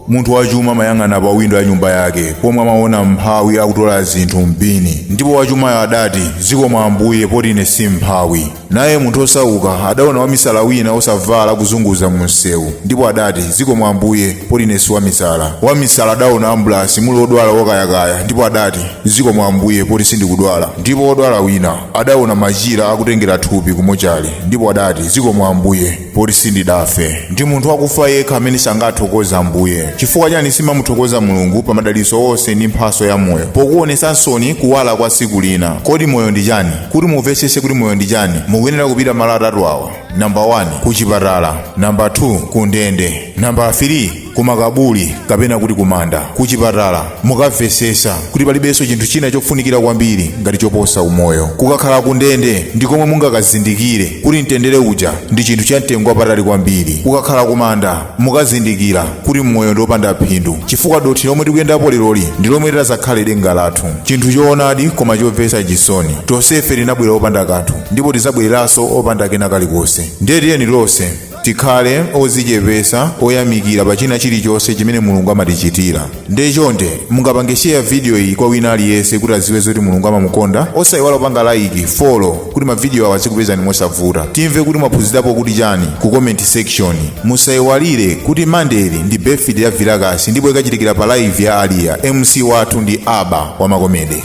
munthu wachuma amayang'ana pa windo ya nyumba yake pomwe amaona mphawi akutola zinthu m'bini ndipo wachumayo adati zikomo ambuye poti ine si mphawi naye munthu osauka adaona wamisala wina osavala akuzunguza mu msewu ndipo adati zikomo ambuye poti ine si wamisala wamisala adaona ambulasi muli odwala okayakaya ndipo adati zikomo ambuye poti sindikudwala ndipo odwala wina adaona machira akutengera thupi kumochale ndipo adati zikomo ambuye poti sindidafe ndi munthu wakufa yekha amene sangathokoze ambuye chifukwa chani simamuthokoza mulungu pa madalitso onse ndi mphaso ya moyo pokuonesa nsoni kuwala kwa tsiku lina kodi moyo ndi chani kuti mumvetsese kuti moyo ndi chani mukuyenera kupita malo atatu awa namba 1 ku chipatala namba 2 ku ndende namba 3 kumakabuli kapena kuti kumanda kuchipatala mukamvesesa kuti palibenso chinthu china chofunikira kwambiri ngati choposa umoyo kukakhala kundende ndi komwe mungakazindikire kuti mtendere uja ndi chinthu cha mtengo wapatali kwambiri kukakhala kumanda mukazindikira kuti mmoyo ndi opanda phindu chifukwa dothi lomwe tikuyendapo leroli ndi lomwe litazakhale denga lathu chinthu choonadi koma chomvetsa chisoni tonsefe tinabwera opanda kanthu ndipo tizabwereranso opanda kena kalikonse ndiye tiyeni tonse tikhale ozichepesa oyamikira pa china chilichonse chimene mulungu amatichitira ndiye chonde mungapange share video iyi kwa wina aliyense kuti aziwe zoti mulungu amamukonda osayiwala kupanga like follow kuti mavidiyo awa azikupezani mosavuta timve kuti mwaphunzirapo kuti chani ku comment section musayiwalire kuti mande li ndi birthday ya vilakasi ndipo ikachitikira pa live ya aliya mc wathu ndi aba wa makomede